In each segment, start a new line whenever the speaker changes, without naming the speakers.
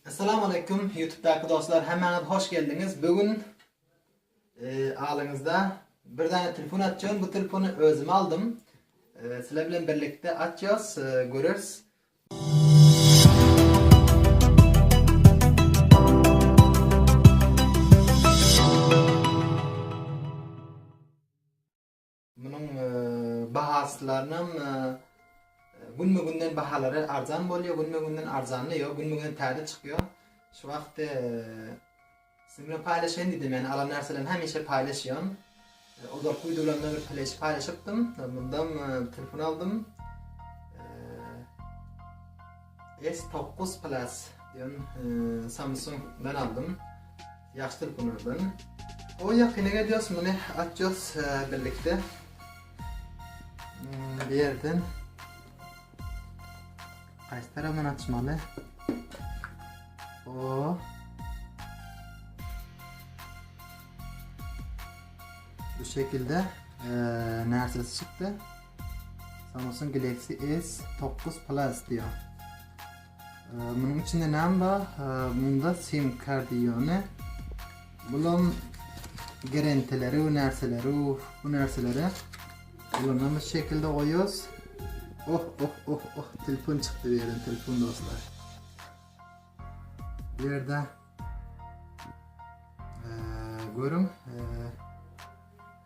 Essalam Aleýkum YouTube daky dostlar hemmäňiz hoş geldiňiz bu gün alyňyzda bir dana telefon açýan bu telefony özüme aldym sizler bilen birlikde açýas görürs Munuň bahasylarynyň günbe-günden bahalary arzan bolýar, günbe-günden arzanly ýok, günbe-gün täze çykýar. Şu wagt siz bilen paýlaşaýyn diýdim, ýani alan närselerini hemişe paýlaşýan. Ozalky wideolarymda bir pleş paýlaşypdym, mundam telefon aldym. S9 Plus diýen Samsung-dan aldym. Ýagşy telefon özlerine. Oý ýakyna gelýos muny açýos birlikde. Bu ýerden Haýsy tarapdan açmaly? O. Bu şekilde e, närsesi çykdy. Samsung Galaxy S9 Plus diyor. Munuň içinde näme bar? Munda sim kart ýöne bulam gerenteleri we närseleri bu närseleri ulanamyz şekilde goýýas. Oh oh oh oh telefon çykdy bu ýerden telefon dostlar. Bu ýerde görüň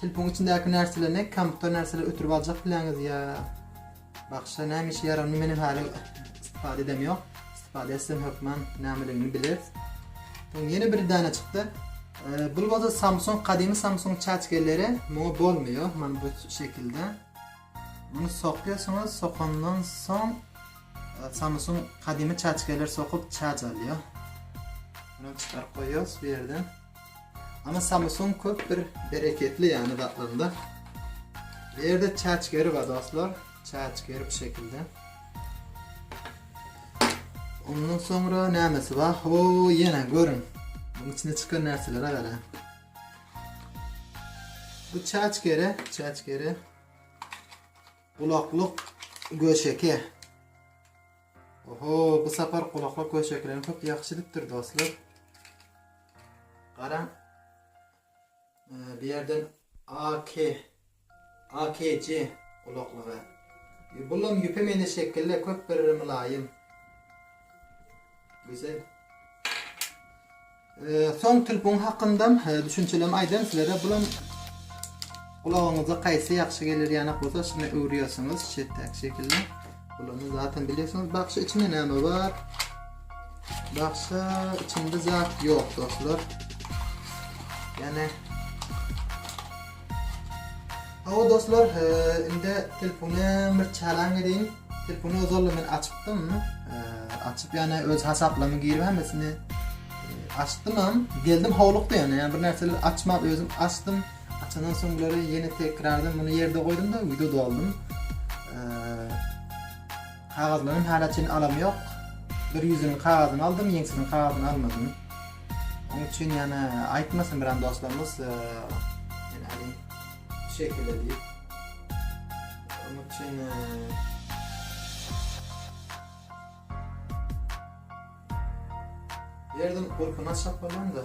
Telponyň içindäki närselerni kompýuter närseleri ötürip aljak bileňiz ýa bagşa näme işe ýarar ony meniň häli istifade edem ýok istifade etsem hökman nämeligini bileris soň ýene bir dana çykdy bul bolsa samsung gadymy samsung çaçkeleri muňa bolmaýar mana bu şekilde muny sokuyorsunuz sokandan soň samsung gadymy çaçkeler sokup çaç alýar bunu çykaryp goýýarys bu ýerden Ama Samsung köp bir bereketli yani zatlarynda. Bu yerde çaç geri var dostlar. Çaç geri bu şekilde. Ondan sonra nämesi var? Ho yine görün. Bunun içine çıkan nerselere gara. Bu çaç geri, çaç geri. Kulaklık göşeke. Oho bu sapar gulaklyk we şekilem köp ýagşy gidipdir dostlar. Garaň. Bir ýerden AK AKC gulaklygy. E, Bulam ýüpe meni şekille köp bir mylaýym. Güzel. Soň telpon hakynda düşünçelemi aýdaýyn sizlere bulam gulagyňyza haýsy ýagşy geler ýanak bolsa şuny öwürýärsiňiz şetäk şekilli bulany zaten bilýärsiňiz bagşy içinde näme bar bagşy içinde zat ýok dostlar ýane Hawa dostlar, indi telefony bir çalaň edin. Telefony ozalda men açypdym. Açyp ýane öz hasaplama girip hemmesini açdymam. Geldim howlukdy ýane, ýane bir närseler açmap özüm açdym. Açandan soň bulary ýene tekrardan muny ýerde goýdum-da, wideo doldum. Kagyzlaryny hala çyn alam ýok. Bir ýüzüniň kagyzyny aldym, ýeňsiniň kagyzyny almadym. Oň üçin ýana aýtmasyn biran dostlarymyz ýene hany şu şekilde diýip. Oň üçin Ýerden gurpuna çapylan-da.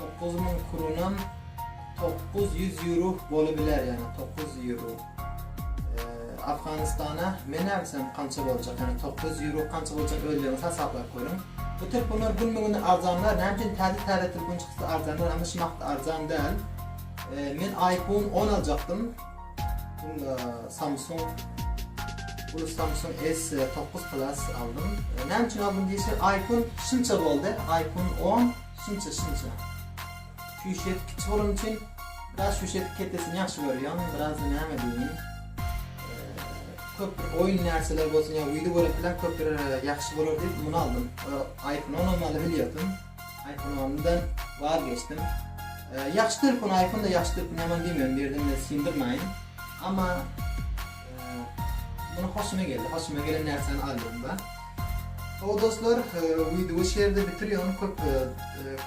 Dokuz müň krunam dokuz ýüz ýuro bolu biler ýagny dokuz ýuro Afganystana men näbilsem kança boljak ýagny dokuz ýuro kança boljak özleriňiz hasaplap görüň bu telefonlar günbe gün arzanlar näme üçin täze täze telefon çyksa arzanlar ama şumakda arzan däl men iPhone on aljakdym bunda Samsung bu Samsung S dokuz plus aldym näme üçin aldym diýse iPhone şunça boldy iPhone on Şunça şunça. Sýužet kiçi bolany üçin biraz sýužet ketesini ýagşy görýän, biraz näme diýýin. Köp bir oýun näçeler bolsun ýa wideo görseler köp bir ýagşy bolar diýip muny aldym. iPhone almaly bilýärdim. iPhone almadan waz geçdim. Ýagşy telefon iPhone-da ýagşy telefon ýaman diýmän birden-de syndirmäýin. Amma Muny hoşuma geldi. Hoşuma gelen närseni aldymda. O dostlar, wideowy şu ýerde bitirýän köp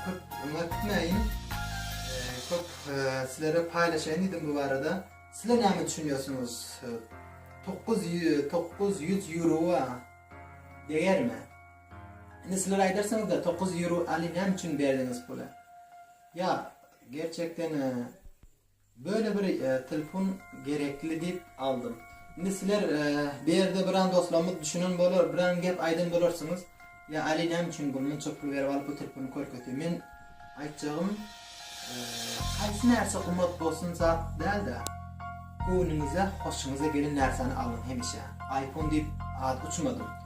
köp öňürtmäýin. Köp sizlere paýlaşaýyn diýdim bu barada. Sizler näme düşünýärsiňiz? 900 900 euro degerme. Indi sizler aýdarsyňyz da 900 euro aly näme üçin berdiňiz pula? Ya gerçekten Böyle bir telefon gerekli diyip aldym. Indi sizler bu yerde biran dostlarymyz düşünen bolar, biran gep aydan bolarsynyz, ya Ali name üçin bu munça pul berip alyp bu telefony körketiyor. Men aytjagym haysy närse gymmat bolsun zat dälde, göwnüňize, hoşuňyza gelen närseni alyň hemişe. Aypon diyip ad uçmadym.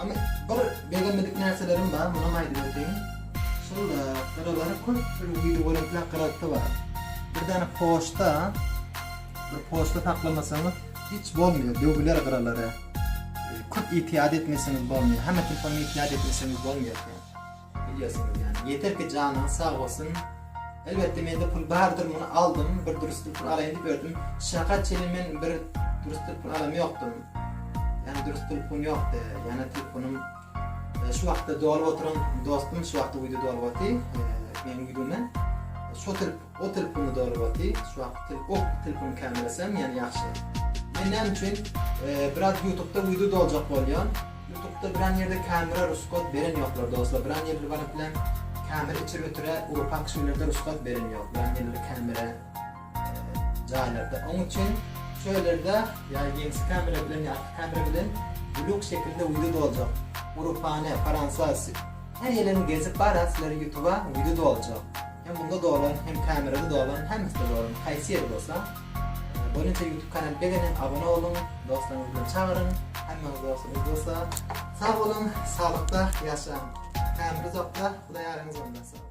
Ama bir begenmedik närselerim bar, munam aýdyp öteyim. Şol gyralara köp bir video göremtrak gyraltgy bar. Bir dana poçta, bir poçta saklamasaňyz hiç bolmaýar, döwüler gyralary. Köp ýitiýat etmeseňiz bolmaýar, hemme telefony ýitiýat etmeseňiz bolmaýar. Bilýärsiňiz ýaly. Ýeter ki janyňyz sag bolsun. Elbetde mende pul bardyr muny aldym bir durusdyr pul alaýyn diýip öýdüm. Şaha çenli men bir durusdyr pul alam ýokdym. Ýani durus telefon ýokdy. Ýani telefonym şu wagtda dolup oturan dostum şu wagtda uýdy dolup oty. Men uýdymy? Şu tel o telefony dolup oty. Şu wagt tel ok telefon kamerasam ýani ýagşy. Men näme üçin biraz ýutubda uýdy doljak bolýan. Ýutupda biran ýerde kamera rusgat beren ýoklar doslar biran ýerler bar bilen kamera içir ötürä uropak kişilerde rusgat beren ýok biran ýerler kamera jaýlarda oň üçin şölerde ýa ýeňsi kamera bilen ýa arka kamera bilen blug şekilde wideo doljak uropany faransa her ýerini gezip bara sizlere ýutuba wideo doljak hem munda dolan hem kamerada dolan hemmesde dolan haýsy ýeri bolsa. Boneter ýutub kanal begenin abone boluň dostlaryňyzy bilen çagyryň hemmäňiz dostlaryňyz dostlar sag boluň saglykda ýaşaň ämri uzakda hudaý ýaryňyz bolsun.